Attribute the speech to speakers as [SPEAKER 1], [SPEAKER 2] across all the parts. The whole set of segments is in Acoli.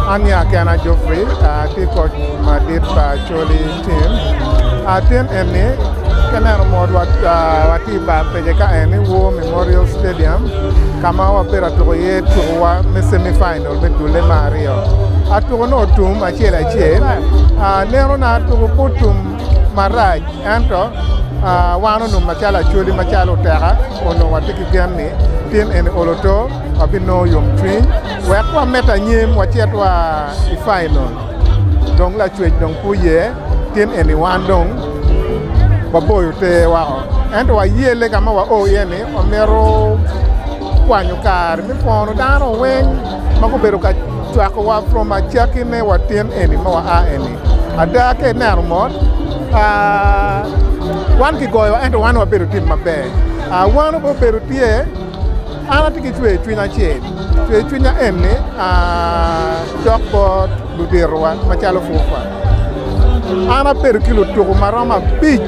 [SPEAKER 1] An ya
[SPEAKER 2] kena Geoffrey atye koc madit pa Acholi team. Tin eni ka ineno mot watye i bar peja ka eni War Memorial Stadium ka ma wabedo ka tuko iye tukowa me semi final me dulle me aryo. Tuko nongo otum acel acel. Nenona tuko pe otum. marac ento wan onongo macalo acholi macalo oteka onongo watye ki gen ni tin eni olo to wabinongo yomcwiny wek wamed anyim wacit wa i painol dong lacwec dong pe oye tin eni wan dong waboyo ter woko ento waye lega ma wao iye ni wamito kwanyo kare me pwono dano weng ma gubedo ka cwakowa from acakki me wa tin eni ma waa eni. Ada ka ineno mot, wan kigoyowa ento wan wabedo tim maber. Wan obedo tye, an atye ki cwercwiny acel, cwercwinya en ni cok bot luditowa macalo Fufa. An abedo ki lutuku maromo abic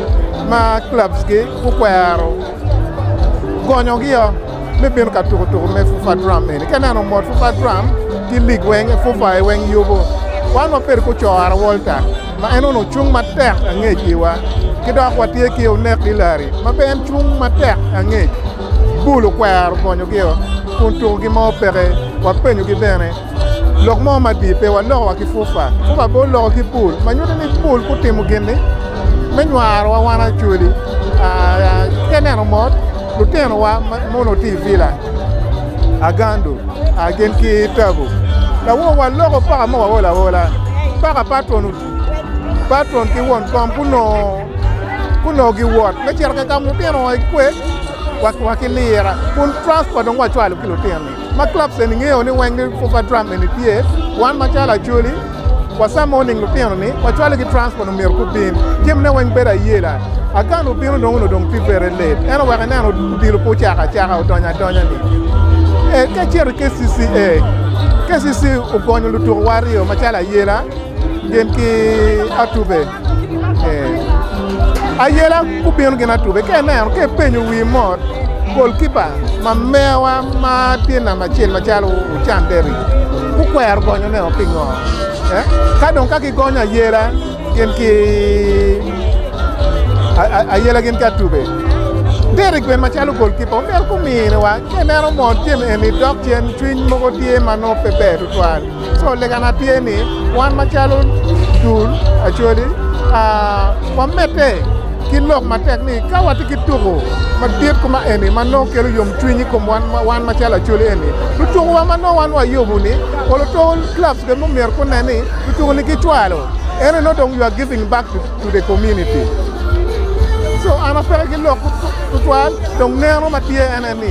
[SPEAKER 2] ma clubs-gi gukwero gonyogi o. me bino ka tuko tuko me FUFA Drum eni. Ka ineno mot FUFA Drum ki lig weng FUFA i weng yubo wan wabedo ku Cora Walter ma en onongo cung matek angec iwa. Ki dok watye ki Onek Hillary ma bene en cung matek angec. Bull okwero gonyogi-o kun tukogi mo peke. Wapenyogi bene. Lok mo madit, pe walokowa ki pupa pupa pe oloko ki pul ma nyuto ni pul gutimo gin-ni me nywarowa wan actually ki aneno mot lutinowa ma mono tye i villa Agandu gin ki Tabu lawo waloko paka ma waol aola paka patron patron ki won kom gunongo gunongo giwot me cito ka gamo lutinowa gikwe wa ki lira kun transport dong wacwalo ki lutino-ni. Ma clubs eni ngeyo ni weng ni Football Drum eni tye, wan macalo Acholi wa some morning lutino ni wacwalo ki transport omyero gubin. Jami ne weng bedo ayela. Agan obino dong onongo dong tye bere late ento wek inen odilo pe ocako acaka odonyo adonya ni. Ee ka icito i KCCA, KCCA ogonyo lutuko wa aryo macalo Ayela gin ki Atube. Ayela gubino gin atube ka ineno ka ipenyo wi mot golkipa ma mewa ma tye namba acel macalo Ocan Derrick gukwero gonyo ne o pingo ka dong ka gigonyo ayela gin ki ayela gin ki atube Derrick bene macalo golkipa omyero gumine wa ka ineno mot Jami eni dok cen cwiny mogo tye ma nongo pe ber tutwal. So legana tye ni wan macalo dul Acholi wamedde ki lok matek ni ka watye ki tuko madit kuma eni ma nongo kelo yomcwiny i kom wan macalo Acholi eni, lutukuwa ma nongo wan wayubo-ni or lutuku clubs bene myero gunen ni lutuku-ni gicwalo ento nongo dong you are giving back to the community. So an apeke ki lok tutwal dong neno ma tye ene ni